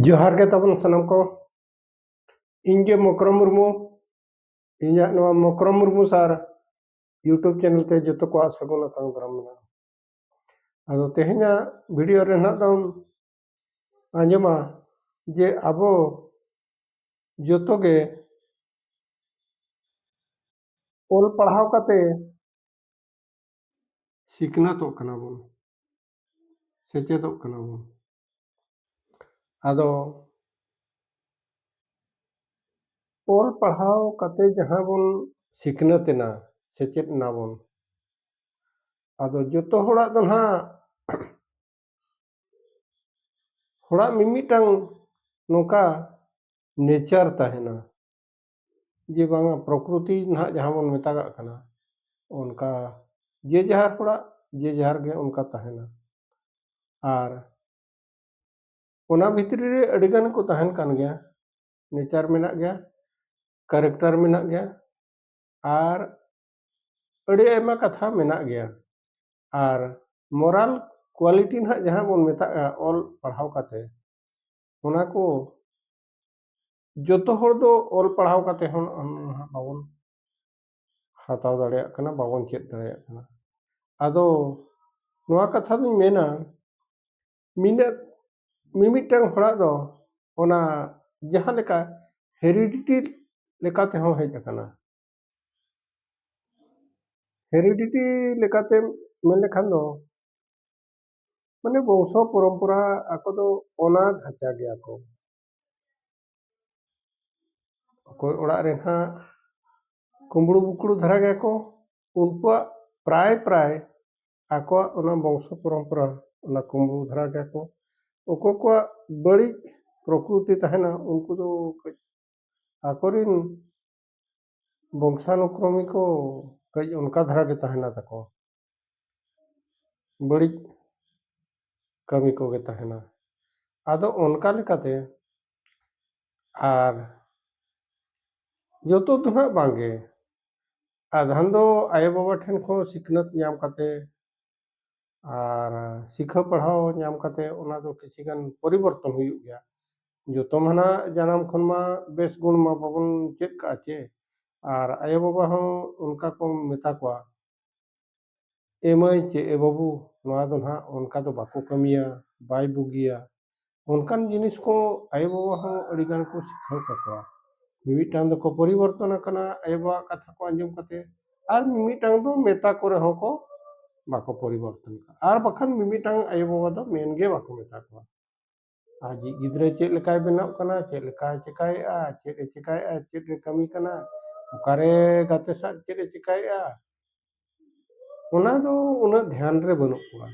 ᱡᱚᱦᱟᱨ ᱜᱮ ᱛᱟᱵᱚᱱ ᱥᱟᱱᱟᱢ ᱠᱚ ᱤᱧ ᱜᱮ ᱢᱚᱠᱨᱚᱢ ᱢᱩᱨᱢᱩ ᱤᱧᱟᱹᱜ ᱱᱚᱣᱟ ᱢᱚᱠᱨᱚᱢ ᱢᱩᱨᱢᱩ ᱥᱟᱨ ᱤᱭᱩᱴᱩᱵᱽ ᱪᱮᱱᱮᱞ ᱛᱮ ᱡᱚᱛᱚ ᱠᱚᱣᱟᱜ ᱥᱟᱹᱜᱩᱱ ᱟᱛᱟᱝ ᱫᱟᱨᱟᱢ ᱢᱮᱱᱟᱜᱼᱟ ᱟᱫᱚ ᱛᱮᱦᱮᱧᱟᱜ ᱵᱷᱤᱰᱤᱭᱳ ᱨᱮ ᱱᱟᱜ ᱫᱚᱢ ᱟᱸᱡᱚᱢᱟ ᱡᱮ ᱟᱵᱚ ᱡᱚᱛᱚ ᱜᱮ ᱚᱞ ᱯᱟᱲᱦᱟᱣ ᱠᱟᱛᱮ ᱥᱤᱠᱷᱱᱟᱹᱛᱚᱜ ᱠᱟᱱᱟ ᱵᱚᱱ ᱥᱮᱪᱮᱫᱚᱜ ᱠᱟᱱᱟ ᱵᱚᱱ ᱟᱫᱚ ᱚᱞ ᱯᱟᱲᱦᱟᱣ ᱠᱟᱛᱮ ᱡᱟᱦᱟᱸ ᱵᱚᱱ ᱥᱤᱠᱷᱱᱟᱹᱛ ᱮᱱᱟ ᱥᱮᱪᱮᱫ ᱮᱱᱟ ᱵᱚᱱ ᱟᱫᱚ ᱡᱚᱛᱚ ᱦᱚᱲᱟᱜ ᱫᱚ ᱱᱟᱦᱟᱜ ᱦᱚᱲᱟᱜ ᱢᱤᱢᱤᱫᱴᱟᱝ ᱱᱚᱝᱠᱟ ᱱᱮᱪᱟᱨ ᱛᱟᱦᱮᱱᱟ ᱡᱮ ᱵᱟᱝᱟ ᱯᱨᱚᱠᱨᱤᱛᱤ ᱱᱟᱦᱟᱜ ᱡᱟᱦᱟᱸ ᱵᱚᱱ ᱢᱮᱛᱟᱜᱟᱜ ᱠᱟᱱᱟ ᱚᱱᱠᱟ ᱡᱮ ᱡᱟᱦᱟᱨ ᱦᱚᱲᱟᱜ ᱡᱮ ᱡᱟᱦᱟᱨ ᱜᱮ ᱚᱱᱠᱟ ᱛᱟᱦᱮᱱᱟ ᱟᱨ ᱚᱱᱟ ᱵᱷᱤᱛᱨᱤ ᱨᱮ ᱟᱹᱰᱤ ᱜᱟᱱ ᱠᱚ ᱛᱟᱦᱮᱱ ᱠᱟᱱ ᱜᱮᱭᱟ ᱱᱮᱪᱟᱨ ᱢᱮᱱᱟᱜ ᱜᱮᱭᱟ ᱠᱮᱨᱮᱠᱴᱟᱨ ᱢᱮᱱᱟᱜ ᱜᱮᱭᱟ ᱟᱨ ᱟᱹᱰᱤ ᱟᱭᱢᱟ ᱠᱟᱛᱷᱟ ᱢᱮᱱᱟᱜ ᱜᱮᱭᱟ ᱟᱨ ᱢᱚᱨᱟᱞ ᱠᱳᱣᱟᱞᱤᱴᱤ ᱱᱟᱦᱟᱜ ᱡᱟᱦᱟᱸ ᱵᱚᱱ ᱢᱮᱛᱟᱜᱼᱟ ᱚᱞ ᱯᱟᱲᱦᱟᱣ ᱠᱟᱛᱮ ᱚᱱᱟ ᱠᱚ ᱡᱚᱛᱚ ᱦᱚᱲ ᱫᱚ ᱚᱞ ᱯᱟᱲᱦᱟᱣ ᱠᱟᱛᱮ ᱦᱚᱸ ᱱᱟᱦᱟᱜ ᱵᱟᱵᱚᱱ ᱦᱟᱛᱟᱣ ᱫᱟᱲᱮᱭᱟᱜ ᱠᱟᱱᱟ ᱵᱟᱵᱚᱱ ᱪᱮᱫ ᱫᱟᱲᱮᱭᱟᱜ ᱠᱟᱱᱟ ᱟᱫᱚ ᱱᱚᱣᱟ ᱠᱟᱛᱷᱟ ᱫᱚᱧ ᱢᱮᱱᱟ ᱢᱤᱱᱟᱹᱜ ᱢᱤᱢᱤᱫᱴᱟᱝ ᱦᱚᱲᱟᱜ ᱫᱚ ᱚᱱᱟ ᱡᱟᱦᱟᱸ ᱞᱮᱠᱟ ᱦᱮᱨᱤᱰᱤᱴᱤ ᱞᱮᱠᱟ ᱛᱮᱦᱚᱸ ᱦᱮᱡ ᱟᱠᱟᱱᱟ ᱦᱮᱨᱤᱰᱤᱴᱤ ᱞᱮᱠᱟᱛᱮ ᱢᱮᱱ ᱞᱮᱠᱷᱟᱱ ᱫᱚ ᱢᱟᱱᱮ ᱵᱚᱝᱥᱚ ᱯᱚᱨᱚᱢᱯᱚᱨᱟ ᱟᱠᱚ ᱫᱚ ᱚᱱᱟ ᱫᱷᱟᱪᱟ ᱜᱮᱭᱟ ᱠᱚ ᱚᱠᱚᱭ ᱚᱲᱟᱜ ᱨᱮ ᱦᱟᱸᱜ ᱠᱩᱢᱵᱽᱲᱩ ᱵᱩᱠᱲᱩ ᱫᱷᱟᱨᱟ ᱜᱮᱭᱟ ᱠᱚ ᱩᱱᱠᱩᱣᱟᱜ ᱯᱨᱟᱭ ᱯᱨᱟᱭ ᱟᱠᱚᱣᱟᱜ ᱚᱱᱟ ᱵᱚᱝᱥᱚ ᱯᱚᱨᱚᱢᱯᱚᱨᱟ ᱚᱱᱟ ᱠᱩᱢᱵᱽᱲᱩ ᱫᱷᱟᱨᱟ ᱜᱮᱭᱟ ᱠᱚ ᱚᱠᱚᱭ ᱠᱚᱣᱟᱜ ᱵᱟᱹᱲᱤᱡ ᱯᱨᱚᱠᱨᱤᱛᱤ ᱛᱟᱦᱮᱱᱟ ᱩᱱᱠᱩ ᱫᱚ ᱠᱟᱹᱡ ᱟᱠᱚᱨᱮᱱ ᱵᱚᱝᱥᱟᱱᱩᱠᱨᱚᱢᱤ ᱠᱚ ᱠᱟᱹᱡ ᱚᱱᱠᱟ ᱫᱷᱟᱨᱟ ᱜᱮ ᱛᱟᱦᱮᱱᱟ ᱛᱟᱠᱚ ᱵᱟᱹᱲᱤᱡ ᱠᱟᱹᱢᱤ ᱠᱚᱜᱮ ᱛᱟᱦᱮᱱᱟ ᱟᱫᱚ ᱚᱱᱠᱟ ᱞᱮᱠᱟᱛᱮ ᱟᱨ ᱡᱚᱛᱚ ᱫᱚ ᱦᱟᱸᱜ ᱵᱟᱝᱜᱮ ᱟᱫᱷᱟᱱ ᱫᱚ ᱟᱭᱳᱼᱵᱟᱵᱟ ᱴᱷᱮᱱ ᱠᱷᱚᱱ ᱥᱤᱠᱷᱱᱟᱹᱛ ᱧᱟᱢ ᱠᱟᱛᱮ ᱟᱨ ᱥᱤᱠᱷᱟᱹᱣ ᱯᱟᱲᱦᱟᱣ ᱧᱟᱢ ᱠᱟᱛᱮ ᱚᱱᱟ ᱫᱚ ᱠᱤᱪᱷᱤ ᱜᱟᱱ ᱯᱚᱨᱤᱵᱚᱨᱛᱚᱱ ᱦᱩᱭᱩᱜ ᱜᱮᱭᱟ ᱡᱚᱛᱚ ᱢᱟ ᱱᱟᱦᱟᱜ ᱡᱟᱱᱟᱢ ᱠᱷᱚᱱ ᱢᱟ ᱵᱮᱥ ᱜᱩᱱ ᱢᱟ ᱵᱟᱵᱚᱱ ᱪᱮᱫ ᱠᱟᱜᱼᱟ ᱪᱮ ᱟᱨ ᱟᱭᱳᱼᱵᱟᱵᱟ ᱦᱚᱸ ᱚᱱᱠᱟ ᱠᱚ ᱢᱮᱛᱟ ᱠᱚᱣᱟ ᱮᱢᱟᱹᱭ ᱪᱮᱫ ᱮ ᱵᱟᱹᱵᱩ ᱱᱚᱣᱟ ᱫᱚ ᱱᱟᱦᱟᱜ ᱚᱱᱠᱟ ᱫᱚ ᱵᱟᱠᱚ ᱠᱟᱹᱢᱤᱭᱟ ᱵᱟᱭ ᱵᱩᱜᱤᱭᱟ ᱚᱱᱠᱟᱱ ᱡᱤᱱᱤᱥ ᱠᱚ ᱟᱭᱳ ᱵᱟᱵᱟ ᱦᱚᱸ ᱟᱹᱰᱤ ᱜᱟᱱ ᱠᱚ ᱥᱤᱠᱷᱟᱹᱣ ᱠᱟᱠᱚᱣᱟ ᱢᱤᱢᱤᱫᱴᱟᱝ ᱫᱚᱠᱚ ᱯᱚᱨᱤᱵᱚᱨᱛᱚᱱ ᱟᱠᱟᱱᱟ ᱟᱭᱳ ᱵᱟᱵᱟᱣᱟᱜ ᱠᱟᱛᱷᱟ ᱠᱚ ᱟᱸᱡᱚᱢ ᱠᱟᱛᱮ ᱟᱨ ᱢᱤᱢᱤᱫᱴᱟᱝ ᱫᱚ ᱢᱮᱛᱟ ᱠᱚ ᱨᱮᱦᱚᱸ ᱠᱚ ᱵᱟᱠᱚ ᱯᱚᱨᱤᱵᱚᱨᱛᱚᱱ ᱠᱟᱱᱟ ᱟᱨ ᱵᱟᱠᱷᱟᱱ ᱢᱤᱢᱤᱫᱴᱟᱝ ᱟᱭᱳ ᱵᱟᱵᱟ ᱫᱚ ᱢᱮᱱ ᱜᱮ ᱵᱟᱠᱚ ᱢᱮᱛᱟ ᱠᱚᱣᱟ ᱟᱡᱤᱡ ᱜᱤᱫᱽᱨᱟᱹ ᱪᱮᱫ ᱞᱮᱠᱟᱭ ᱵᱮᱱᱟᱜ ᱠᱟᱱᱟ ᱪᱮᱫ ᱞᱮᱠᱟᱭ ᱪᱮᱠᱟᱭᱮᱜᱼᱟ ᱪᱮᱫ ᱮ ᱪᱮᱠᱟᱭᱮᱜᱼᱟ ᱪᱮᱫ ᱮ ᱠᱟᱹᱢᱤ ᱠᱟᱱᱟ ᱚᱠᱟᱨᱮ ᱜᱟᱛᱮ ᱥᱟᱶ ᱪᱮᱫ ᱮ ᱪᱮᱠᱟᱭᱮᱜᱼᱟ ᱚᱱᱟ ᱫᱚ ᱩᱱᱟᱹᱜ ᱫᱷᱮᱭᱟᱱ ᱨᱮ ᱵᱟᱹᱱᱩᱜ ᱠᱚᱣᱟ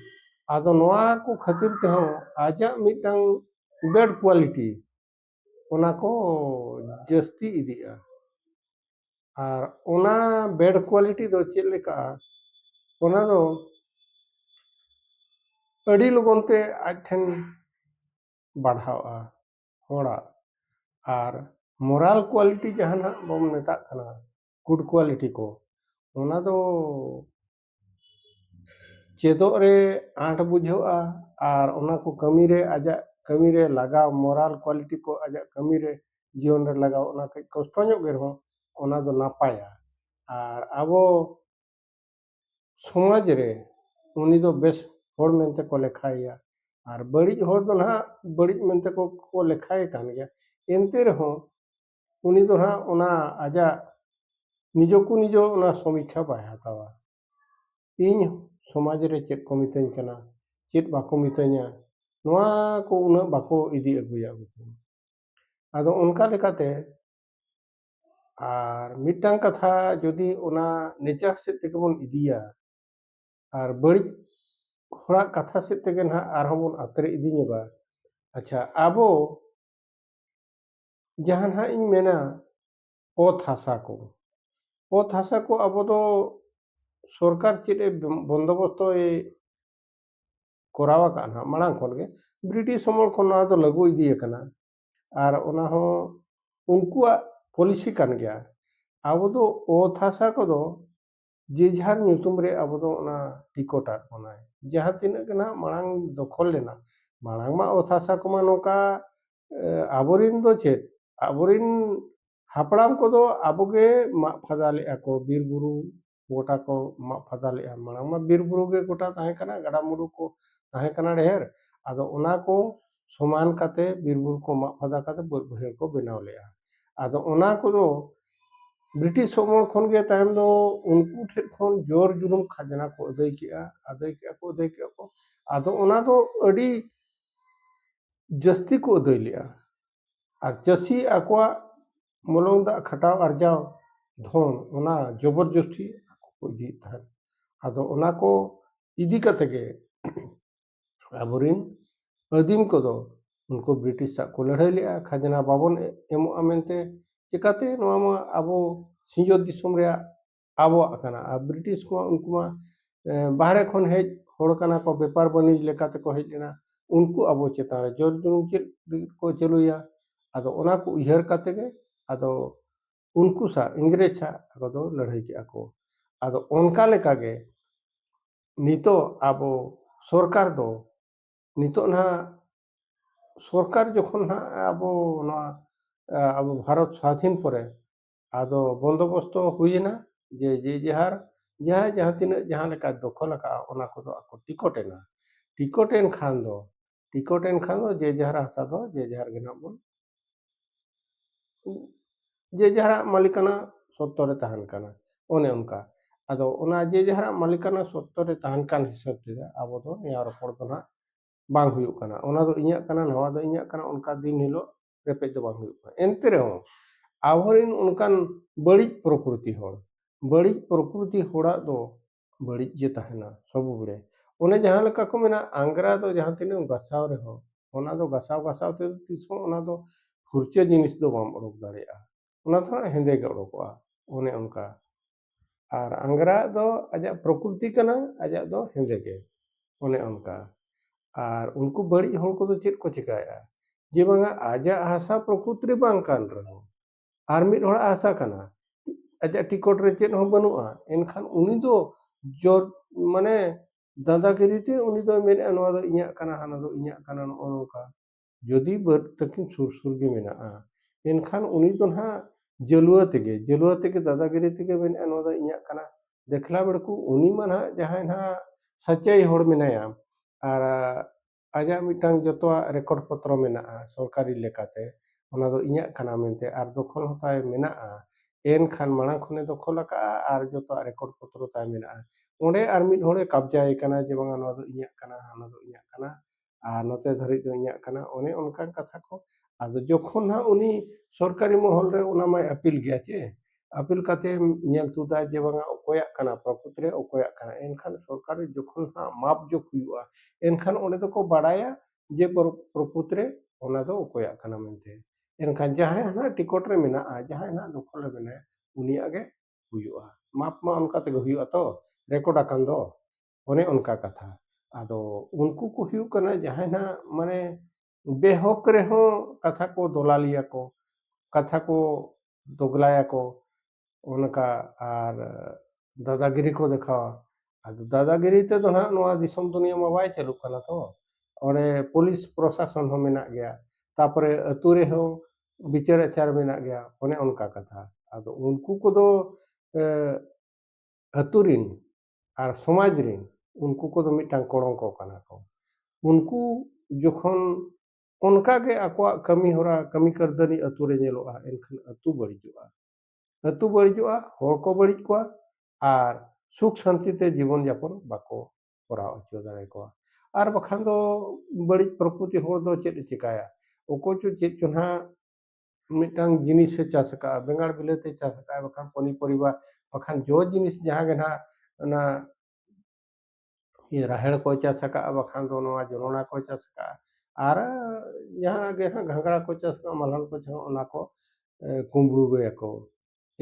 ᱟᱫᱚ ᱱᱚᱣᱟ ᱠᱚ ᱠᱷᱟᱹᱛᱤᱨ ᱛᱮᱦᱚᱸ ᱟᱡᱟᱜ ᱢᱤᱫᱴᱟᱝ ᱵᱮᱰ ᱠᱚᱣᱟᱞᱤᱴᱤ ᱚᱱᱟ ᱠᱚ ᱡᱟᱹᱥᱛᱤ ᱤᱫᱤᱜᱼᱟ ᱟᱨ ᱚᱱᱟ ᱵᱮᱰ ᱠᱳᱣᱟᱞᱤᱴᱤ ᱫᱚ ᱪᱮᱫ ᱞᱮᱠᱟ ᱚᱱᱟ ᱫᱚ ᱟᱹᱰᱤ ᱞᱚᱜᱚᱱ ᱛᱮ ᱟᱡ ᱴᱷᱮᱱ ᱵᱟᱲᱦᱟᱣᱜᱼᱟ ᱦᱚᱲᱟᱜ ᱟᱨ ᱢᱚᱨᱟᱞ ᱠᱳᱣᱟᱞᱤᱴᱤ ᱡᱟᱦᱟᱱᱟᱜ ᱵᱚᱱ ᱢᱮᱛᱟᱜ ᱠᱟᱱᱟ ᱜᱩᱰ ᱠᱳᱣᱟᱞᱤᱴᱤ ᱠᱚ ᱚᱱᱟ ᱫᱚ ᱪᱮᱫᱚᱜ ᱨᱮ ᱟᱸᱴ ᱵᱩᱡᱷᱟᱹᱜᱼᱟ ᱟᱨ ᱚᱱᱟ ᱠᱚ ᱠᱟᱹᱢᱤ ᱨᱮ ᱟᱡᱟᱜ ᱠᱟᱹᱢᱤ ᱨᱮ ᱞᱟᱜᱟᱣ ᱢᱚᱨᱟᱞ ᱠᱚᱣᱟᱞᱤᱴᱤ ᱠᱚ ᱟᱡᱟᱜ ᱠᱟᱹᱢᱤ ᱨᱮ ᱡᱤᱭᱚᱱ ᱨᱮ ᱞᱟᱜᱟᱣ ᱚᱱᱟ ᱠᱟᱹᱡ ᱠᱚᱥᱴᱚ ᱧᱚᱜ ᱜᱮ ᱨᱮᱦᱚᱸ ᱚᱱᱟ ᱫᱚ ᱱᱟᱯᱟᱭᱟ ᱟᱨ ᱟᱵᱚ ᱥᱚᱢᱟᱡᱽ ᱨᱮ ᱩᱱᱤ ᱫᱚ ᱵᱮᱥ ᱦᱚᱲ ᱢᱮᱱᱛᱮ ᱠᱚ ᱞᱮᱠᱷᱟᱭᱮᱭᱟ ᱟᱨ ᱵᱟᱹᱲᱤᱡ ᱦᱚᱲ ᱫᱚ ᱱᱟᱦᱟᱜ ᱵᱟᱹᱲᱤᱡ ᱢᱮᱱᱛᱮ ᱠᱚ ᱞᱮᱠᱷᱟᱭᱮ ᱠᱟᱱ ᱜᱮᱭᱟ ᱮᱱᱛᱮ ᱨᱮᱦᱚᱸ ᱩᱱᱤ ᱫᱚ ᱦᱟᱸᱜ ᱚᱱᱟ ᱟᱡᱟᱜ ᱱᱤᱡᱚ ᱠᱚ ᱱᱤᱡᱚ ᱚᱱᱟ ᱥᱚᱢᱤᱠᱠᱷᱟ ᱵᱟᱭ ᱦᱟᱛᱟᱣᱟ ᱤᱧ ᱥᱚᱢᱟᱡᱽ ᱨᱮ ᱪᱮᱫ ᱠᱚ ᱢᱤᱛᱟᱹᱧ ᱠᱟᱱᱟ ᱪᱮᱫ ᱵᱟᱠᱚ ᱢᱤᱛᱟᱹᱧᱟ ᱱᱚᱣᱟ ᱠᱚ ᱩᱱᱟᱹᱜ ᱵᱟᱠᱚ ᱤᱫᱤ ᱟᱹᱜᱩᱭᱟ ᱩᱱᱠᱩ ᱟᱫᱚ ᱚᱱᱠᱟ ᱞᱮᱠᱟᱛᱮ ᱟᱨ ᱢᱤᱫᱴᱟᱝ ᱠᱟᱛᱷᱟ ᱡᱩᱫᱤ ᱚᱱᱟ ᱱᱮᱪᱟᱨ ᱥᱮᱫ ᱛᱮᱜᱮ ᱵᱚᱱ ᱤᱫᱤᱭᱟ ᱟᱨ ᱵᱟᱹᱲᱤᱡ ᱦᱚᱲᱟᱜ ᱠᱟᱛᱷᱟ ᱥᱮᱫ ᱛᱮᱜᱮ ᱱᱟᱦᱟᱜ ᱟᱨᱦᱚᱸ ᱵᱚᱱ ᱟᱛᱨᱮ ᱤᱫᱤ ᱧᱚᱜᱟ ᱟᱪᱪᱷᱟ ᱟᱵᱚ ᱡᱟᱦᱟᱸ ᱱᱟᱦᱟᱜ ᱤᱧ ᱢᱮᱱᱟ ᱚᱛ ᱦᱟᱥᱟ ᱠᱚ ᱚᱛ ᱦᱟᱥᱟ ᱠᱚ ᱟᱵᱚ ᱫᱚ ᱥᱚᱨᱠᱟᱨ ᱪᱮᱫ ᱮ ᱵᱚᱱᱫᱚᱵᱚᱥᱛᱚᱭ ᱠᱚᱨᱟᱣ ᱟᱠᱟᱫᱼᱟ ᱱᱟᱦᱟᱜ ᱢᱟᱲᱟᱝ ᱠᱷᱚᱱ ᱜᱮ ᱵᱨᱤᱴᱤᱥ ᱟᱢᱚᱞ ᱠᱷᱚᱱ ᱱᱚᱣᱟ ᱫᱚ ᱞᱟᱹᱜᱩ ᱤᱫᱤ ᱟᱠᱟᱱᱟ ᱟᱨ ᱚᱱᱟ ᱦᱚᱸ ᱩᱱᱠᱩᱣᱟᱜ ᱯᱚᱞᱤᱥᱤ ᱠᱟᱱ ᱜᱮᱭᱟ ᱟᱵᱚ ᱫᱚ ᱚᱛ ᱦᱟᱥᱟ ᱠᱚᱫᱚ ᱡᱮ ᱡᱟᱦᱟᱨ ᱧᱩᱛᱩᱢ ᱨᱮ ᱟᱵᱚ ᱫᱚ ᱚᱱᱟ ᱴᱤᱠᱚᱴ ᱟᱫ ᱵᱚᱱᱟᱭ ᱡᱟᱦᱟᱸ ᱛᱤᱱᱟᱹᱜ ᱜᱮ ᱱᱟᱦᱟᱜ ᱢᱟᱲᱟᱝ ᱫᱚᱠᱷᱚᱞ ᱞᱮᱱᱟ ᱢᱟᱲᱟᱝ ᱢᱟ ᱚᱛ ᱦᱟᱥᱟ ᱠᱚᱢᱟ ᱱᱚᱝᱠᱟ ᱟᱵᱚᱨᱮᱱ ᱫᱚ ᱪᱮᱫ ᱟᱵᱚᱨᱮᱱ ᱦᱟᱯᱲᱟᱢ ᱠᱚᱫᱚ ᱟᱵᱚ ᱜᱮ ᱢᱟᱜ ᱯᱷᱟᱫᱟ ᱞᱮᱫᱼᱟ ᱠᱚ ᱵᱤᱨ ᱵᱩᱨᱩ ᱜᱚᱴᱟ ᱠᱚ ᱢᱟᱜ ᱯᱷᱟᱫᱟ ᱞᱮᱫᱼᱟ ᱢᱟᱲᱟᱝ ᱢᱟ ᱵᱤᱨ ᱵᱩᱨᱩ ᱜᱮ ᱜᱚᱴᱟ ᱛᱟᱦᱮᱸ ᱠᱟᱱᱟ ᱜᱟᱰᱟ ᱢᱩᱰᱩ ᱠᱚ ᱛᱟᱦᱮᱸ ᱠᱟᱱᱟ ᱰᱷᱮᱨ ᱟᱫᱚ ᱚᱱᱟ ᱠᱚ ᱥᱚᱢᱟᱱ ᱠᱟᱛᱮᱫ ᱵᱤᱨ ᱵᱩᱨᱩ ᱠᱚ ᱢᱟᱜ ᱯᱷᱟᱫᱟ ᱠᱟᱛᱮᱫ ᱵᱟᱹᱫᱽ ᱵᱟᱹᱭᱦᱟᱹᱲ ᱠᱚ ᱵᱮᱱᱟᱣ ᱞᱮᱫᱼᱟ ᱟᱫᱚ ᱚᱱᱟ ᱠᱚᱫᱚ ᱵᱨᱤᱴᱤᱥ ᱟᱢᱚᱞ ᱠᱷᱚᱱ ᱜᱮ ᱛᱟᱭᱚᱢ ᱫᱚ ᱩᱱᱠᱩ ᱴᱷᱮᱱ ᱠᱷᱚᱱ ᱡᱚᱨ ᱡᱩᱞᱩᱢ ᱠᱷᱟᱡᱽᱱᱟ ᱠᱚ ᱟᱹᱫᱟᱹᱭ ᱠᱮᱜᱼᱟ ᱟᱹᱫᱟᱹᱭ ᱠᱮᱜᱼᱟ ᱠᱚ ᱟᱹᱫᱟᱹᱭ ᱠᱮᱜᱼᱟ ᱠᱚ ᱟᱫᱚ ᱚᱱᱟ ᱫᱚ ᱟᱹᱰᱤ ᱡᱟᱹᱥᱛᱤ ᱠᱚ ᱟᱹᱫᱟᱹᱭ ᱞᱮᱜᱼᱟ ᱟᱨ ᱪᱟᱹᱥᱤ ᱟᱠᱚᱣᱟᱜ ᱢᱚᱞᱚᱝ ᱫᱟᱜ ᱠᱷᱟᱴᱟᱣ ᱟᱨᱡᱟᱣ ᱫᱷᱚᱱ ᱚᱱᱟ ᱡᱚᱵᱚᱨ ᱡᱚᱥᱛᱤ ᱟᱠᱚ ᱠᱚ ᱤᱫᱤᱭᱮᱫ ᱛᱟᱦᱮᱸᱫ ᱟᱫᱚ ᱚᱱᱟ ᱠᱚ ᱤᱫᱤ ᱠᱟᱛᱮ ᱜᱮ ᱟᱵᱚᱨᱮᱱ ᱟᱹᱫᱤᱢ ᱠᱚᱫᱚ ᱩᱱᱠᱩ ᱵᱨᱤᱴᱤᱥ ᱥᱟᱜ ᱠᱚ ᱞᱟᱹᱲᱦᱟᱹᱭ ᱞᱮᱜᱼᱟ ᱠᱷᱟᱡᱽᱱᱟ ᱵᱟᱵᱚᱱ ᱮᱢᱚᱜᱼᱟ ᱢᱮᱱᱛᱮ ᱪᱮᱠᱟᱛᱮ ᱱᱚᱣᱟ ᱢᱟ ᱟᱵᱚ ᱥᱤᱧᱚᱛ ᱫᱤᱥᱚᱢ ᱨᱮᱭᱟᱜ ᱟᱵᱚᱣᱟᱜ ᱠᱟᱱᱟ ᱟᱨ ᱵᱨᱤᱴᱤᱥ ᱠᱚᱢᱟ ᱩᱱᱠᱩ ᱢᱟ ᱵᱟᱦᱨᱮ ᱠᱷᱚᱱ ᱦᱮᱡ ᱦᱚᱲ ᱠᱟᱱᱟ ᱠᱚ ᱵᱮᱯᱟᱨ ᱵᱟᱹᱱᱤᱡᱽ ᱞᱮᱠᱟ ᱛᱮᱠᱚ ᱦᱮᱡ ᱞᱮᱱᱟ ᱩᱱᱠᱩ ᱟᱵᱚ ᱪᱮᱛᱟᱱ ᱨᱮ ᱡᱳᱨ ᱡᱩᱞᱩᱢ ᱪᱮᱫ ᱞᱟᱹᱜᱤᱫ ᱠᱚ ᱪᱟᱹᱞᱩᱭᱟ ᱟᱫᱚ ᱚᱱᱟ ᱠᱚ ᱩᱭᱦᱟᱹᱨ ᱠᱟᱛᱮ ᱜᱮ ᱟᱫᱚ ᱩᱱᱠᱩ ᱥᱟᱶ ᱤᱝᱨᱮᱡᱽ ᱥᱟᱶ ᱟᱠᱚ ᱫᱚ ᱞᱟᱹᱲᱦᱟᱹᱭ ᱠᱮᱜᱼᱟ ᱠᱚ ᱟᱫᱚ ᱚᱱᱠᱟ ᱞᱮᱠᱟᱜᱮ ᱱᱤᱛᱚᱜ ᱟᱵᱚ ᱥᱚᱨᱠᱟᱨ ᱫᱚ ᱱᱤᱛᱚᱜ ᱱᱟᱦᱟᱜ ᱥᱚᱨᱠᱟᱨ ᱡᱚᱠᱷᱚᱱ ᱱᱟᱦᱟᱜ ᱟᱵᱚ ᱱᱚᱣᱟ ᱟᱵᱚ ᱵᱷᱟᱨᱚᱛ ᱥᱟᱫᱷᱤᱱ ᱯᱚᱨᱮ ᱟᱫᱚ ᱵᱚᱱᱫᱚᱵᱚᱥᱛᱚ ᱦᱩᱭᱮᱱᱟ ᱡᱮ ᱡᱮ ᱡᱟᱦᱟᱨ ᱡᱟᱦᱟᱸᱭ ᱡᱟᱦᱟᱸ ᱛᱤᱱᱟᱹᱜ ᱡᱟᱦᱟᱸ ᱞᱮᱠᱟᱭ ᱫᱚᱠᱷᱚᱞ ᱟᱠᱟᱫᱼᱟ ᱚᱱᱟ ᱠᱚᱫᱚ ᱟᱠᱚ ᱴᱤᱠᱚᱴ ᱮᱱᱟ ᱴᱤᱠᱚᱴ ᱮᱱ ᱠᱷᱟᱱ ᱫᱚ ᱴᱤᱠᱚᱴ ᱮᱱ ᱠᱷᱟᱱ ᱫᱚ ᱡᱮ ᱡᱟᱦᱟᱨ ᱦᱟᱥᱟ ᱫᱚ ᱡᱮ ᱡᱟᱦᱟᱨ ᱜᱮ ᱱᱟᱦᱟᱜ ᱵᱚᱱ ᱡᱮ ᱡᱟᱦᱟᱨᱟᱜ ᱢᱟᱹᱞᱤᱠᱟᱱᱟ ᱥᱚᱛᱛᱚ ᱨᱮ ᱛᱟᱦᱮᱱ ᱠᱟᱱᱟ ᱚᱱᱮ ᱚᱱᱠᱟ ᱟᱫᱚ ᱚᱱᱟ ᱡᱮ ᱡᱟᱦᱟᱨᱟᱜ ᱢᱟᱹᱞᱤᱠᱟᱱᱟ ᱥᱚᱛᱛᱚ ᱨᱮ ᱛᱟᱦᱮᱱ ᱠᱟᱱ ᱦᱤᱥᱟᱹᱵ ᱛᱮ ᱟᱵᱚ ᱫᱚ ᱱᱮᱭᱟᱣ ᱨᱚᱯᱚᱲ ᱫᱚ ᱱᱟᱦᱟᱜ ᱵᱟᱝ ᱦᱩᱭᱩᱜ ᱠᱟᱱᱟ ᱚᱱᱟ ᱫᱚ ᱤᱧᱟᱹᱜ ᱠᱟᱱᱟ ᱱᱚᱣᱟ ᱫᱚ ᱤᱧᱟᱹᱜ ᱠᱟᱱᱟ ᱚᱱᱠᱟ ᱫᱤᱱ ᱦᱤᱞᱳᱜ ᱨᱮᱯᱮᱡ ᱫᱚ ᱵᱟᱝ ᱦᱩᱭᱩᱜ ᱠᱟᱱᱟ ᱮᱱᱛᱮ ᱨᱮᱦᱚᱸ ᱟᱵᱚᱨᱮᱱ ᱚᱱᱠᱟᱱ ᱵᱟᱹᱲᱤᱡ ᱯᱨᱚᱠᱨᱤᱛᱤ ᱦᱚᱲ ᱵᱟᱹᱲᱤᱡ ᱯᱨᱚᱠᱨᱤᱛᱤ ᱦᱚᱲᱟᱜ ᱫᱚ ᱵᱟᱹᱲᱤᱡ ᱜᱮ ᱛᱟᱦᱮᱱᱟ ᱥᱚᱵᱽ ᱵᱟᱲᱮ ᱚᱱᱮ ᱡᱟᱦᱟᱸ ᱞᱮᱠᱟ ᱠᱚ ᱢᱮᱱᱟ ᱟᱝᱜᱽᱨᱟ ᱫᱚ ᱡᱟᱦᱟᱸ ᱛᱤᱱᱟᱹᱜ ᱮᱢ ᱜᱟᱥᱟᱣ ᱨᱮᱦᱚᱸ ᱚᱱᱟ ᱫᱚ ᱜᱟᱥᱟᱣ ᱜᱟᱥᱟᱣ ᱛᱮ ᱛᱤᱥ ᱦᱚᱸ ᱚᱱᱟ ᱫᱚ ᱯᱷᱩᱨᱪᱟᱹ ᱡᱤᱱᱤᱥ ᱫᱚ ᱵᱟᱢ ᱚᱰᱚᱠ ᱫᱟᱲᱮᱭᱟᱜᱼᱟ ᱚᱱᱟ ᱫᱚ ᱦᱟᱸᱜ ᱦᱮᱸᱫᱮ ᱜᱮ ᱚᱰᱚᱠᱚᱜᱼᱟ ᱚᱱᱮ ᱚᱱᱠᱟ ᱟᱨ ᱟᱝᱜᱽᱨᱟ ᱟᱜ ᱫᱚ ᱟᱡᱟᱜ ᱯᱨᱚᱠᱨᱤᱛᱤ ᱠᱟᱱᱟ ᱟᱡᱟᱜ ᱫᱚ ᱦᱮᱸᱫᱮ ᱜᱮ ᱚᱱᱮ ᱚᱱᱠᱟ ᱟᱨ ᱩᱱᱠᱩ ᱵᱟᱹᱲᱤᱡ ᱦᱚᱲ ᱠᱚᱫᱚ ᱪᱮᱫ ᱠᱚ ᱪᱤᱠᱟᱹᱭᱮᱜᱼᱟ ᱡᱮ ᱵᱟᱝᱟ ᱟᱡᱟᱜ ᱦᱟᱥᱟ ᱯᱨᱚᱠᱨᱤᱛᱤ ᱨᱮ ᱵᱟᱝ ᱠᱟᱱ ᱨᱮᱦᱚᱸ ᱟᱨ ᱢᱤᱫ ᱦᱚᱲᱟᱜ ᱦᱟᱥᱟ ᱠᱟᱱᱟ ᱟᱡᱟᱜ ᱴᱤᱠᱚᱴ ᱨᱮ ᱪᱮᱫ ᱦᱚᱸ ᱵᱟᱹᱱᱩᱜᱼᱟ ᱮᱱᱠᱷᱟᱱ ᱩᱱᱤ ᱫᱚ ᱡᱚᱛ ᱢᱟᱱᱮ ᱫᱟᱫᱟᱜᱤᱨᱤ ᱛᱮ ᱩᱱᱤ ᱫᱚᱭ ᱢᱮᱱᱮᱜᱼᱟ ᱱᱚᱣᱟ ᱫᱚ ᱤᱧᱟᱹᱜ ᱠᱟᱱᱟ ᱦᱟᱱᱟ ᱫᱚ ᱤᱧᱟᱹᱜ ᱠᱟᱱᱟ ᱱᱚᱜᱼᱚ ᱱᱚᱝᱠᱟ ᱡᱩᱫᱤ ᱵᱟᱹᱫᱽ ᱛᱟᱹᱠᱤᱱ ᱥᱩᱨ ᱥᱩᱨ ᱜᱮ ᱢᱮᱱᱟᱜᱼᱟ ᱮᱱᱠᱷᱟᱱ ᱩᱱᱤ ᱫᱚ ᱱᱟᱦᱟᱜ ᱡᱟᱹᱞᱣᱟᱹ ᱛᱮᱜᱮ ᱡᱟᱹᱞᱣᱟᱹ ᱛᱮᱜᱮ ᱫᱟᱫᱟᱜᱤᱨᱤ ᱛᱮᱜᱮ ᱢᱮᱱᱮᱜᱼᱟ ᱱᱚᱣᱟ ᱫᱚ ᱤᱧᱟᱹᱜ ᱠᱟᱱᱟ ᱫᱮᱠᱷᱞᱟ ᱵᱮᱲᱠᱩ ᱩᱱᱤ ᱢᱟ ᱱᱟᱦᱟᱜ ᱡᱟᱦᱟᱸᱭ ᱱᱟᱦᱟᱜ ᱥᱟᱪᱟᱭ ᱦᱚᱲ ᱢᱮᱱᱟᱭᱟ ᱟᱨ ᱟᱡᱟᱜ ᱢᱤᱫᱴᱟᱝ ᱡᱚᱛᱚᱣᱟᱜ ᱨᱮᱠᱚᱨᱰ ᱯᱚᱛᱨᱚ ᱢᱮᱱᱟᱜᱼᱟ ᱥᱚᱨᱠᱟᱨᱤ ᱞᱮᱠᱟᱛᱮ ᱚᱱᱟ ᱫᱚ ᱤᱧᱟᱹᱜ ᱠᱟᱱᱟ ᱢᱮᱱᱛᱮ ᱟᱨ ᱫᱚᱠᱷᱚᱞ ᱦᱚᱸ ᱛᱟᱭ ᱢᱮᱱᱟᱜᱼᱟ ᱮᱱᱠᱷᱟᱱ ᱢᱟᱲᱟᱝ ᱠᱷᱚᱱᱮ ᱫᱚᱠᱷᱚᱞ ᱟᱠᱟᱫᱼᱟ ᱟᱨ ᱡᱚᱛᱚᱣᱟᱜ ᱨᱮᱠᱚᱨᱰ ᱯᱚᱛᱨᱚ ᱛᱟᱭ ᱢᱮᱱᱟᱜᱼᱟ ᱚᱸᱰᱮ ᱟᱨ ᱢᱤᱫ ᱦᱚᱲᱮ ᱠᱟᱵᱽᱡᱟᱭᱮ ᱠᱟᱱᱟ ᱡᱮ ᱵᱟᱝᱟ ᱱᱚᱣᱟ ᱫᱚ ᱤᱧᱟᱹᱜ ᱠᱟᱱᱟ ᱦᱟᱱᱟ ᱫᱚ ᱤᱧᱟᱹᱜ ᱠᱟᱱᱟ ᱟᱨ ᱱᱚᱛᱮ ᱫᱷᱟᱹᱨᱤᱡ ᱫᱚ ᱤᱧᱟᱹᱜ ᱠᱟᱱᱟ ᱚᱱᱮ ᱚᱱᱠᱟᱱ ᱠᱟᱛᱷᱟ ᱠᱚ ᱟᱫᱚ ᱡᱚᱠᱷᱚᱱ ᱦᱟᱸᱜ ᱩᱱᱤ ᱥᱚᱨᱠᱟᱨᱤ ᱢᱚᱦᱚᱞ ᱨᱮ ᱚᱱᱟ ᱢᱟᱭ ᱟᱯᱤᱞ ᱜᱮᱭᱟ ᱥᱮ ᱟᱯᱤᱞ ᱠᱟᱛᱮᱢ ᱧᱮᱞ ᱛᱩᱫᱟ ᱡᱮ ᱵᱟᱝᱟ ᱚᱠᱚᱭᱟᱜ ᱠᱟᱱᱟ ᱯᱨᱚᱠᱨᱤᱛᱤ ᱨᱮ ᱚᱠᱚᱭᱟᱜ ᱠᱟᱱᱟ ᱮᱱᱠᱷᱟᱱ ᱥᱚᱨᱠᱟᱨ ᱡᱚᱠᱷᱚᱱ ᱦᱟᱸᱜ ᱢᱟᱯ ᱡᱳᱜᱽ ᱦᱩᱭᱩᱜᱼᱟ ᱮᱱᱠᱷᱟᱱ ᱚᱸᱰᱮ ᱫᱚᱠᱚ ᱵᱟᱲᱟᱭᱟ ᱡᱮ ᱯᱨᱚᱠᱨᱤᱛᱤ ᱨᱮ ᱚᱱᱟ ᱫᱚ ᱚᱠᱚᱭᱟᱜ ᱠᱟᱱᱟ ᱢᱮᱱᱛᱮ ᱮᱱᱠᱷᱟᱱ ᱡᱟᱦᱟᱸᱭ ᱦᱟᱸᱜ ᱴᱤᱠᱚᱴ ᱨᱮ ᱢᱮᱱᱟᱜᱼᱟ ᱡᱟᱦᱟᱸᱭ ᱦᱟᱸᱜ ᱫᱚᱠᱷᱚᱞ ᱨᱮ ᱢᱮᱱᱟᱭᱟ ᱩᱱᱤᱭᱟᱜ ᱜᱮ ᱦᱩᱭᱩᱜᱼᱟ ᱢᱟᱯ ᱢᱟ ᱚᱱᱠᱟ ᱛᱮᱜᱮ ᱦᱩᱭᱩᱜᱼᱟ ᱛᱚ ᱨᱮᱠᱚᱨᱰ ᱟᱠᱟᱱ ᱫᱚ ᱚᱱᱮ ᱚᱱᱠᱟ ᱠᱟᱛᱷᱟ ᱟᱫᱚ ᱩᱱᱠᱩ ᱠᱚ ᱦᱩᱭᱩᱜ ᱠᱟᱱᱟ ᱡᱟᱦᱟᱸᱭ ᱦᱟᱸᱜ ᱢᱟᱱᱮ ᱵᱮᱦᱚᱠ ᱨᱮᱦᱚᱸ ᱠᱟᱛᱷᱟ ᱠᱚ ᱫᱚᱞᱟᱞᱤᱭᱟ ᱠᱚ ᱠᱟᱛᱷᱟ ᱠᱚ ᱫᱚᱜᱽᱞᱟᱭᱟ ᱠᱚ ᱚᱱᱠᱟ ᱟᱨ ᱫᱟᱫᱟᱜᱤᱨᱤ ᱠᱚ ᱫᱮᱠᱷᱟᱣᱟ ᱟᱫᱚ ᱫᱟᱫᱟᱜᱤᱨᱤ ᱛᱮᱫᱚ ᱱᱟᱦᱟᱜ ᱱᱚᱣᱟ ᱫᱤᱥᱚᱢ ᱫᱩᱱᱤᱭᱟᱹ ᱢᱟ ᱵᱟᱭ ᱪᱟᱹᱞᱩᱜ ᱠᱟᱱᱟ ᱛᱚ ᱚᱸᱰᱮ ᱯᱩᱞᱤᱥ ᱯᱨᱚᱥᱟᱥᱚᱱ ᱦᱚᱸ ᱢᱮᱱᱟᱜ ᱜᱮᱭᱟ ᱛᱟᱯᱚᱨᱮ ᱟᱹᱛᱩ ᱨᱮᱦᱚᱸ ᱵᱤᱪᱟᱹᱨ ᱟᱪᱟᱨ ᱢᱮᱱᱟᱜ ᱜᱮᱭᱟ ᱚᱱᱮ ᱚᱱᱠᱟ ᱠᱟᱛᱷᱟ ᱟᱫᱚ ᱩᱱᱠᱩ ᱠᱚᱫᱚ ᱟᱹᱛᱩ ᱨᱤᱱ ᱟᱨ ᱥᱚᱢᱟᱡᱽ ᱨᱮᱱ ᱩᱱᱠᱩ ᱠᱚᱫᱚ ᱢᱤᱫᱴᱟᱝ ᱠᱚᱲᱚᱝᱠᱚ ᱠᱟᱱᱟ ᱠᱚ ᱩᱱᱠᱩ ᱡᱚᱠᱷᱚᱱ ᱚᱱᱠᱟ ᱜᱮ ᱟᱠᱚᱣᱟᱜ ᱠᱟᱹᱢᱤ ᱦᱚᱨᱟ ᱠᱟᱹᱢᱤ ᱠᱟᱹᱨᱫᱷᱟᱹᱱᱤ ᱟᱹᱛᱩ ᱨᱮ ᱧᱮᱞᱚᱜᱼᱟ ᱮᱱᱠᱷᱟᱱ ᱟᱹᱛᱩ ᱵᱟᱹᱲᱤᱡᱚᱜᱼᱟ ᱟᱹᱛᱩ ᱵᱟᱹᱲᱤᱡᱚᱜᱼᱟ ᱦᱚᱲ ᱠᱚ ᱵᱟᱹᱲᱤᱡ ᱠᱚᱣᱟ ᱟᱨ ᱥᱩᱠ ᱥᱟᱱᱛᱤ ᱛᱮ ᱡᱤᱵᱚᱱ ᱡᱟᱯᱚᱱ ᱵᱟᱠᱚ ᱠᱚᱨᱟᱣ ᱦᱚᱪᱚ ᱫᱟᱲᱮ ᱠᱚᱣᱟ ᱟᱨ ᱵᱟᱠᱷᱟᱱ ᱫᱚ ᱵᱟᱹᱲᱤᱡ ᱯᱨᱚᱠᱨᱤᱛᱤ ᱦᱚᱲ ᱫᱚ ᱪᱮᱫ ᱮ ᱪᱤᱠᱟᱹᱭᱟ ᱚᱠᱚᱭ ᱪᱚ ᱪᱮᱫ ᱪᱚ ᱱᱟᱦᱟᱜ ᱢᱤᱫᱴᱟᱝ ᱡᱤᱱᱤᱥᱮ ᱪᱟᱥ ᱟᱠᱟᱫᱼᱟ ᱵᱮᱸᱜᱟᱲ ᱵᱤᱞᱟᱹᱛᱤ ᱪᱟᱥ ᱟᱠᱟᱫᱼᱟ ᱵᱟᱠᱷᱟᱱ ᱯᱚᱱᱤ ᱯᱚᱨᱤᱵᱟ ᱵᱟᱠᱷᱟᱱ ᱡᱚ ᱡᱤᱱᱤᱥ ᱡᱟᱦᱟᱸ ᱜᱮ ᱱᱟᱦᱟᱜ ᱚᱱᱟ ᱨᱟᱦᱮᱲ ᱠᱚᱭ ᱪᱟᱥ ᱟᱠᱟᱫᱼᱟ ᱵᱟᱠᱷᱟᱱ ᱫᱚ ᱱᱚᱣᱟ ᱡᱚᱱᱚᱲᱟ ᱠᱚᱭ ᱪᱟᱥ ᱟᱠᱟᱫᱼᱟ ᱟᱨ ᱡᱟᱦᱟᱸ ᱜᱮ ᱱᱟᱦᱟᱜ ᱜᱷᱟᱸᱜᱽᱨᱟ ᱠᱚᱭ ᱪᱟᱥ ᱟᱠᱟᱫᱼᱟ ᱢᱟᱞᱦᱟᱱ ᱠᱚᱭ ᱪᱟᱥ ᱟᱠᱟᱫᱼᱟ ᱚᱱᱟ ᱠᱚ ᱠᱩᱢᱲᱩ ᱜᱮᱭᱟᱠᱚ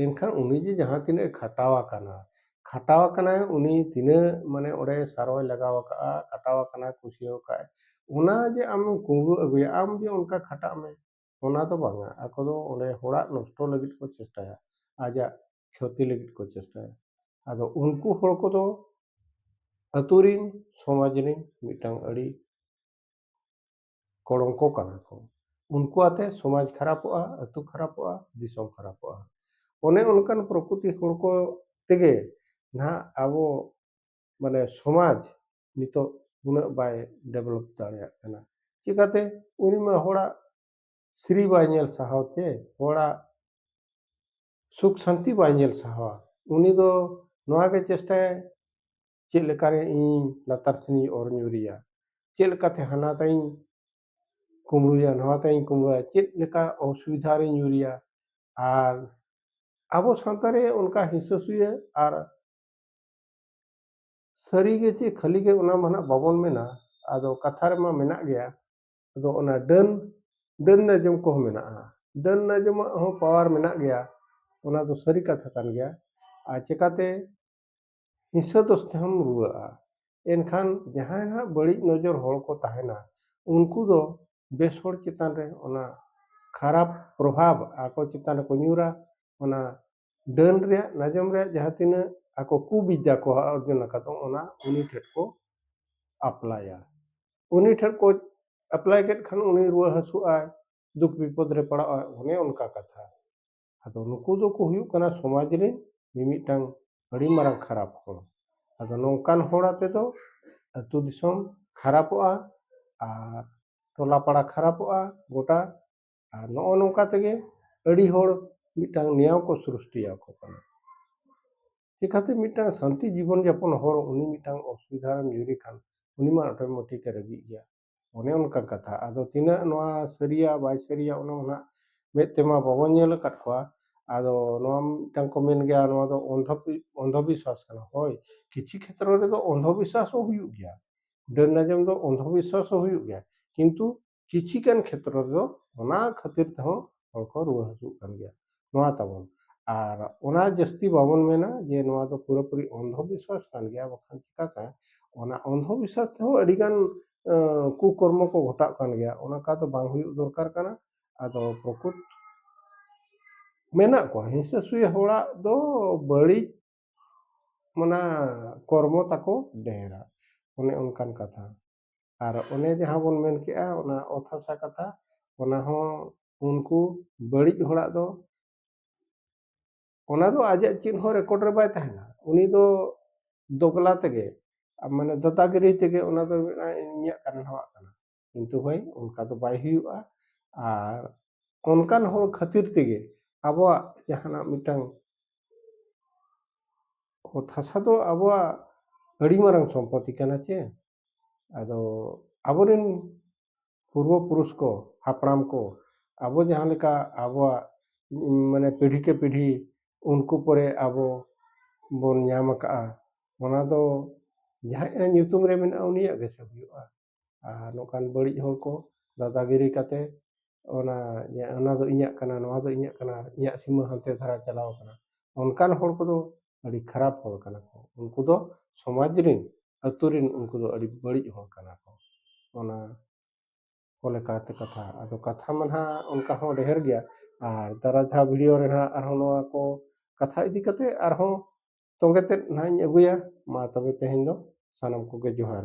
ᱮᱱᱠᱷᱟᱱ ᱩᱱᱤ ᱡᱮ ᱡᱟᱦᱟᱸ ᱛᱤᱱᱟᱹᱜ ᱮ ᱠᱷᱟᱴᱟᱣ ᱟᱠᱟᱱᱟ ᱠᱷᱟᱴᱟᱣ ᱟᱠᱟᱱᱟᱭ ᱩᱱᱤ ᱛᱤᱱᱟᱹᱜ ᱢᱟᱱᱮ ᱚᱸᱰᱮ ᱥᱟᱨᱚᱭ ᱞᱟᱜᱟᱣ ᱟᱠᱟᱫᱼᱟ ᱠᱷᱟᱴᱟᱣ ᱟᱠᱟᱱᱟᱭ ᱠᱩᱥᱭᱟᱹᱣ ᱟᱠᱟᱫᱼᱟᱭ ᱚᱱᱟ ᱡᱮ ᱟᱢᱮᱢ ᱠᱩᱢᱲᱩ ᱟᱹᱜᱩᱭᱟ ᱟᱢ ᱡᱮ ᱚᱱᱠᱟ ᱠᱷᱟᱴᱟᱜ ᱢᱮ ᱚᱱᱟ ᱫᱚ ᱵᱟᱝᱟ ᱟᱠᱚ ᱫᱚ ᱚᱸᱰᱮ ᱦᱚᱲᱟᱜ ᱱᱚᱥᱴᱚ ᱞᱟᱹᱜᱤᱫ ᱠᱚ ᱪᱮᱥᱴᱟᱭᱟ ᱟᱡᱟᱜ ᱠᱷᱚᱛᱤ ᱞᱟᱹᱜᱤᱫ ᱠᱚ ᱪᱮᱥᱴᱟᱭᱟ ᱟᱫᱚ ᱩᱱᱠᱩ ᱦᱚᱲ ᱠᱚᱫᱚ ᱟᱛᱳ ᱨᱤᱱ ᱥᱚᱢᱟᱡᱽ ᱨᱤᱱ ᱢᱤᱫᱴᱟᱝ ᱟᱹᱰᱤ ᱠᱚᱲᱚᱝᱠᱚ ᱠᱟᱱᱟ ᱠᱚ ᱩᱱᱠᱩ ᱟᱛᱮ ᱥᱚᱢᱟᱡᱽ ᱠᱷᱟᱨᱟᱯᱚᱜᱼᱟ ᱟᱛᱳ ᱠᱷᱟᱨᱟᱯᱚᱜᱼᱟ ᱫᱤᱥᱚᱢ ᱠᱷᱟᱨᱟᱯᱚᱜᱼᱟ ᱚᱱᱮ ᱚᱱᱠᱟᱱ ᱯᱨᱚᱠᱨᱤᱛᱤ ᱦᱚᱲ ᱠᱚ ᱛᱮᱜᱮ ᱱᱟᱦᱟᱜ ᱟᱵᱚ ᱢᱟᱱᱮ ᱥᱚᱢᱟᱡᱽ ᱱᱤᱛᱚᱜ ᱩᱱᱟᱹᱜ ᱵᱟᱭ ᱰᱮᱵᱷᱞᱚᱯ ᱫᱟᱲᱮᱭᱟᱜ ᱠᱟᱱᱟ ᱪᱤᱠᱟᱹᱛᱮ ᱩᱱᱤ ᱢᱟ ᱦᱚᱲᱟᱜ ᱥᱨᱤ ᱵᱟᱭ ᱧᱮᱞ ᱥᱟᱦᱟᱣ ᱛᱮ ᱦᱚᱲᱟᱜ ᱥᱩᱠ ᱥᱟᱱᱛᱤ ᱵᱟᱭ ᱧᱮᱞ ᱥᱟᱦᱟᱣᱟ ᱩᱱᱤ ᱫᱚ ᱱᱚᱣᱟ ᱜᱮ ᱪᱮᱥᱴᱟᱭᱟ ᱪᱮᱫ ᱞᱮᱠᱟᱨᱮ ᱤᱧ ᱞᱟᱛᱟᱨ ᱥᱮᱱᱤᱧ ᱚᱨ ᱧᱩᱨᱮᱭᱟ ᱪᱮᱫ ᱞᱮᱠᱟᱛᱮ ᱦᱟᱱᱟ ᱛᱟᱭᱤᱧ ᱠᱩᱢᱲᱩᱭᱟ ᱱᱚᱣᱟ ᱛᱟᱭᱤᱧ ᱠᱩᱢᱲᱩᱭᱟ ᱪᱮᱫ ᱞᱮᱠᱟ ᱚᱥᱩᱵᱤᱫᱷᱟ ᱨᱤᱧ ᱧᱩᱨᱮᱭᱟ ᱟᱨ ᱟᱵᱚ ᱥᱟᱶᱛᱟ ᱨᱮ ᱚᱱᱠᱟ ᱦᱤᱥᱟᱹ ᱥᱩᱭᱟᱹ ᱟᱨ ᱥᱟᱹᱨᱤ ᱜᱮ ᱪᱮᱫ ᱠᱷᱟᱹᱞᱤ ᱜᱮ ᱚᱱᱟ ᱢᱟ ᱱᱟᱜ ᱵᱟᱵᱚᱱ ᱢᱮᱱᱟ ᱟᱫᱚ ᱠᱟᱛᱷᱟ ᱨᱮᱢᱟ ᱢᱮᱱᱟᱜ ᱜᱮᱭᱟ ᱟᱫᱚ ᱚᱱᱟ ᱰᱟᱹᱱ ᱰᱟᱹᱱ ᱱᱟᱡᱚᱢ ᱠᱚᱦᱚᱸ ᱢᱮᱱᱟᱜᱼᱟ ᱰᱟᱹᱱ ᱱᱟᱡᱚᱢᱟᱜ ᱦᱚᱸ ᱯᱟᱣᱟᱨ ᱢᱮᱱᱟᱜ ᱜᱮᱭᱟ ᱚᱱᱟ ᱫᱚ ᱥᱟᱹᱨᱤ ᱠᱟᱛᱷᱟ ᱠᱟᱱ ᱜᱮᱭᱟ ᱟᱨ ᱪᱮᱠᱟᱛᱮ ᱦᱤᱥᱟᱹ ᱫᱳᱥ ᱛᱮᱦᱚᱢ ᱨᱩᱣᱟᱹᱜᱼᱟ ᱮᱱᱠᱷᱟᱱ ᱡᱟᱦᱟᱸᱭ ᱦᱟᱸᱜ ᱵᱟᱹᱲᱤᱡ ᱱᱚᱡᱚᱨ ᱦᱚᱲ ᱠᱚ ᱛᱟᱦᱮᱱᱟ ᱩᱱᱠᱩ ᱫᱚ ᱵᱮᱥ ᱦᱚᱲ ᱪᱮᱛᱟᱱ ᱨᱮ ᱚᱱᱟ ᱠᱷᱟᱨᱟᱯ ᱯᱨᱚᱵᱷᱟᱵᱽ ᱟᱠᱚ ᱪᱮᱛᱟᱱ ᱨᱮᱠᱚ ᱧᱩᱨᱟ ᱚᱱᱟ ᱰᱟᱹᱱ ᱨᱮᱭᱟᱜ ᱱᱟᱡᱚᱢ ᱨᱮᱭᱟᱜ ᱡᱟᱦᱟᱸ ᱛᱤᱱᱟᱹᱜ ᱟᱠᱚ ᱠᱩᱵᱤᱫᱽᱫᱟ ᱠᱚ ᱚᱨᱡᱚᱱ ᱟᱠᱟᱫ ᱫᱚ ᱚᱱᱟ ᱩᱱᱤ ᱴᱷᱮᱱ ᱠᱚ ᱟᱯᱞᱟᱭᱟ ᱩᱱᱤ ᱴᱷᱮᱱ ᱠᱚ ᱟᱯᱞᱟᱭ ᱠᱮᱫ ᱠᱷᱟᱱ ᱩᱱᱤ ᱨᱩᱣᱟᱹ ᱦᱟᱹᱥᱩᱜ ᱟᱭ ᱫᱩᱠ ᱵᱤᱯᱚᱫᱽ ᱨᱮ ᱯᱟᱲᱟᱜ ᱟᱭ ᱚᱱᱮ ᱚᱱᱠᱟ ᱠᱟᱛᱷᱟ ᱟᱫᱚ ᱱᱩᱠᱩ ᱫᱚᱠᱚ ᱦᱩᱭᱩᱜ ᱠᱟᱱᱟ ᱥᱚᱢᱟᱡᱽ ᱨᱮᱱ ᱢᱤᱢᱤᱫᱴᱟᱝ ᱟᱹᱰᱤ ᱢᱟᱨᱟᱝ ᱠᱷᱟᱨᱟᱯ ᱦᱚᱲ ᱟᱫᱚ ᱱᱚᱝᱠᱟᱱ ᱦᱚᱲ ᱟᱛᱮ ᱫᱚ ᱟᱹᱛᱩ ᱫᱤᱥᱚᱢ ᱠᱷᱟᱨᱟᱯᱚᱜᱼᱟ ᱟᱨ ᱴᱚᱞᱟ ᱯᱟᱲᱟ ᱠᱷᱟᱨᱟᱯᱚᱜᱼᱟ ᱜᱚᱴᱟ ᱟᱨ ᱱᱚᱜᱼᱚ ᱱᱚᱝᱠᱟ ᱛᱮᱜᱮ ᱟᱹᱰᱤ ᱦᱚᱲ ᱢᱤᱫᱴᱟᱝ ᱱᱮᱭᱟᱣ ᱠᱚ ᱥᱨᱤᱥᱴᱤᱭᱟᱠᱚ ᱠᱟᱱᱟ ᱪᱤᱠᱟᱹᱛᱮ ᱢᱤᱫᱴᱟᱝ ᱥᱟᱱᱛᱤ ᱡᱤᱵᱚᱱ ᱡᱟᱯᱚᱱ ᱦᱚᱲ ᱩᱱᱤ ᱢᱤᱫᱴᱟᱝ ᱚᱥᱩᱵᱤᱫᱷᱟ ᱨᱮᱢ ᱧᱩᱨᱮ ᱠᱷᱟᱱ ᱩᱱᱤ ᱢᱟ ᱚᱴᱳᱢᱮᱴᱤᱠ ᱮ ᱨᱟᱹᱜᱤᱜ ᱜᱮᱭᱟ ᱚᱱᱮ ᱚᱱᱠᱟ ᱠᱟᱛᱷᱟ ᱟᱫᱚ ᱛᱤᱱᱟᱹᱜ ᱱᱚᱣᱟ ᱥᱟᱹᱨᱤᱭᱟ ᱵᱟᱭ ᱥᱟᱹᱨᱤᱭᱟ ᱚᱱᱟ ᱢᱟ ᱱᱟᱜ ᱢᱮᱫ ᱛᱮᱢᱟ ᱵᱟᱵᱚᱱ ᱧᱮᱞ ᱟᱠᱟᱫ ᱠᱚᱣᱟ ᱟᱫᱚ ᱱᱚᱣᱟ ᱢᱤᱫᱴᱟᱝ ᱠᱚ ᱢᱮᱱ ᱜᱮᱭᱟ ᱱᱚᱣᱟ ᱫᱚ ᱚᱱᱫᱷᱚ ᱚᱱᱫᱷᱚ ᱵᱤᱥᱥᱟᱥ ᱠᱟᱱᱟ ᱦᱳᱭ ᱠᱤᱪᱷᱩ ᱠᱷᱮᱛᱨᱚ ᱨᱮᱫᱚ ᱚᱱᱫᱷᱚ ᱵᱤᱥᱥᱟᱥ ᱦᱚᱸ ᱦᱩᱭᱩᱜ ᱜᱮᱭᱟ ᱰᱟᱹᱱ ᱟᱸᱡᱚᱢ ᱫᱚ ᱚᱱᱫᱷᱚ ᱵᱤᱥᱥᱟᱥ ᱦᱚᱸ ᱦᱩᱭᱩᱜ ᱜᱮᱭᱟ ᱠᱤᱱᱛᱩ ᱠᱤᱪᱷᱤ ᱜᱟᱱ ᱠᱷᱮᱛᱨᱚ ᱨᱮᱫᱚ ᱚᱱᱟ ᱠᱷᱟᱹᱛᱤᱨ ᱛᱮᱦᱚᱸ ᱦᱚᱲ ᱠᱚ ᱨᱩᱣᱟᱹ ᱦᱟᱹᱥᱩᱜ ᱠᱟᱱ ᱜᱮᱭᱟ ᱱᱚᱣᱟ ᱛᱟᱵᱚᱱ ᱟᱨ ᱚᱱᱟ ᱡᱟᱹᱥᱛᱤ ᱵᱟᱵᱚᱱ ᱢᱮᱱᱟ ᱡᱮ ᱱᱚᱣᱟ ᱫᱚ ᱯᱩᱨᱟᱹ ᱯᱩᱨᱤ ᱚᱱᱫᱷᱚ ᱵᱤᱥᱣᱟᱥ ᱠᱟᱱ ᱜᱮᱭᱟ ᱵᱟᱠᱷᱟᱱ ᱪᱤᱠᱟᱹᱛᱮ ᱚᱱᱟ ᱚᱱᱫᱷᱚ ᱵᱤᱥᱣᱟᱥ ᱛᱮᱦᱚᱸ ᱟᱹᱰᱤ ᱜᱟᱱ ᱠᱩ ᱠᱚᱨᱢᱚ ᱠᱚ ᱜᱷᱚᱴᱟᱜ ᱠᱟᱱ ᱜᱮᱭᱟ ᱚᱱᱠᱟ ᱫᱚ ᱵᱟᱝ ᱦᱩᱭᱩᱜ ᱫᱚᱨᱠᱟᱨ ᱠᱟᱱᱟ ᱟᱫᱚ ᱯᱨᱚᱠᱩᱛ ᱢᱮᱱᱟᱜ ᱠᱚᱣᱟ ᱦᱤᱥᱟᱹ ᱥᱩᱭᱟᱹ ᱦᱚᱲᱟᱜ ᱫᱚ ᱵᱟᱹᱲᱤᱡ ᱚᱱᱟ ᱠᱚᱨᱢᱚ ᱛᱟᱠᱚ ᱰᱷᱮᱨᱟ ᱚᱱᱮ ᱚᱱᱠᱟᱱ ᱠᱟᱛᱷᱟ ᱟᱨ ᱚᱱᱮ ᱡᱟᱦᱟᱸ ᱵᱚᱱ ᱢᱮᱱ ᱠᱮᱜᱼᱟ ᱚᱱᱟ ᱚᱛ ᱦᱟᱥᱟ ᱠᱟᱛᱷᱟ ᱚᱱᱟ ᱦᱚᱸ ᱩᱱᱠᱩ ᱵᱟᱹᱲᱤᱡ ᱦᱚᱲᱟᱜ ᱫᱚ ᱚᱱᱟ ᱫᱚ ᱟᱡᱟᱜ ᱪᱮᱫ ᱦᱚᱸ ᱨᱮᱠᱚᱨᱰ ᱨᱮ ᱵᱟᱭ ᱛᱟᱦᱮᱱᱟ ᱩᱱᱤ ᱫᱚ ᱫᱚᱜᱽᱞᱟ ᱛᱮᱜᱮ ᱢᱟᱱᱮ ᱫᱟᱫᱟᱜᱤᱨᱤ ᱛᱮᱜᱮ ᱚᱱᱟ ᱫᱚ ᱢᱮᱱᱟ ᱤᱧᱟᱹᱜ ᱠᱟᱱᱟ ᱱᱚᱣᱟᱜ ᱠᱟᱱᱟ ᱠᱤᱱᱛᱩ ᱦᱳᱭ ᱚᱱᱠᱟ ᱫᱚ ᱵᱟᱭ ᱦᱩᱭᱩᱜᱼᱟ ᱟᱨ ᱚᱱᱠᱟᱱ ᱦᱚᱲ ᱠᱷᱟᱹᱛᱤᱨ ᱛᱮᱜᱮ ᱟᱵᱚᱣᱟᱜ ᱡᱟᱦᱟᱱᱟᱜ ᱢᱤᱫᱴᱟᱝ ᱚᱛ ᱦᱟᱥᱟ ᱫᱚ ᱟᱵᱚᱣᱟᱜ ᱟᱹᱰᱤ ᱢᱟᱨᱟᱝ ᱥᱚᱢᱯᱚᱛᱤ ᱠᱟᱱᱟ ᱪᱮ ᱟᱫᱚ ᱟᱵᱚᱨᱮᱱ ᱯᱩᱨᱵᱚ ᱯᱩᱨᱩᱥ ᱠᱚ ᱦᱟᱯᱲᱟᱢ ᱠᱚ ᱟᱵᱚ ᱡᱟᱦᱟᱸ ᱞᱮᱠᱟ ᱟᱵᱚᱣᱟᱜ ᱢᱟᱱᱮ ᱯᱤᱲᱦᱤ ᱠᱮ ᱯᱤᱲᱦᱤ ᱩᱱᱠᱩ ᱯᱚᱨᱮ ᱟᱵᱚ ᱵᱚᱱ ᱧᱟᱢ ᱟᱠᱟᱫᱼᱟ ᱚᱱᱟ ᱫᱚ ᱡᱟᱦᱟᱸᱭᱟᱜ ᱧᱩᱛᱩᱢ ᱨᱮ ᱢᱮᱱᱟᱜᱼᱟ ᱩᱱᱤᱭᱟᱜ ᱜᱮᱥᱮ ᱦᱩᱭᱩᱜᱼᱟ ᱟᱨ ᱱᱚᱝᱠᱟᱱ ᱵᱟᱹᱲᱤᱡ ᱦᱚᱲ ᱠᱚ ᱫᱟᱫᱟᱜᱤᱨᱤ ᱠᱟᱛᱮ ᱚᱱᱟ ᱚᱱᱟ ᱫᱚ ᱤᱧᱟᱹᱜ ᱠᱟᱱᱟ ᱱᱚᱣᱟ ᱫᱚ ᱤᱧᱟᱹᱜ ᱠᱟᱱᱟ ᱤᱧᱟᱹᱜ ᱥᱤᱢᱟᱹ ᱦᱟᱱᱛᱮ ᱫᱷᱟᱨᱟ ᱪᱟᱞᱟᱣ ᱠᱟᱱᱟ ᱚᱱᱠᱟᱱ ᱦᱚᱲ ᱠᱚᱫᱚ ᱟᱹᱰᱤ ᱠᱷᱟᱨᱟᱯ ᱦᱚᱲ ᱠᱟᱱᱟ ᱠᱚ ᱩᱱᱠᱩ ᱫᱚ ᱥᱚᱢᱟᱡᱽ ᱨᱮᱱ ᱟᱛᱳ ᱨᱮᱱ ᱩᱱᱠᱩ ᱫᱚ ᱟᱹᱰᱤ ᱵᱟᱹᱲᱤᱡ ᱦᱚᱲ ᱠᱟᱱᱟ ᱠᱚ ᱚᱱᱟ ᱠᱚ ᱞᱮᱠᱟᱛᱮ ᱠᱟᱛᱷᱟ ᱟᱫᱚ ᱠᱟᱛᱷᱟ ᱢᱟ ᱱᱟᱦᱟᱜ ᱚᱱᱠᱟ ᱦᱚᱸ ᱰᱷᱮᱨ ᱜᱮᱭᱟ ᱟᱨ ᱫᱟᱨᱟᱭ ᱫᱷᱟᱣ ᱵᱷᱤᱰᱤᱭᱳ ᱨᱮ ᱱᱟᱦᱟᱜ ᱟᱨᱦᱚᱸ ᱱᱚᱣᱟ ᱠᱚ ᱠᱟᱛᱷᱟ ᱤᱫᱤ ᱠᱟᱛᱮ ᱟᱨᱦᱚᱸ ᱛᱚᱸᱜᱮ ᱛᱮᱫ ᱱᱟᱦᱟᱜ ᱤᱧ ᱟᱹᱜᱩᱭᱟ ᱢᱟ ᱛᱚᱵᱮ ᱛᱮᱦᱮᱧ ᱫᱚ ᱥᱟᱱᱟᱢ ᱠᱚᱜᱮ ᱡᱚᱦᱟᱨ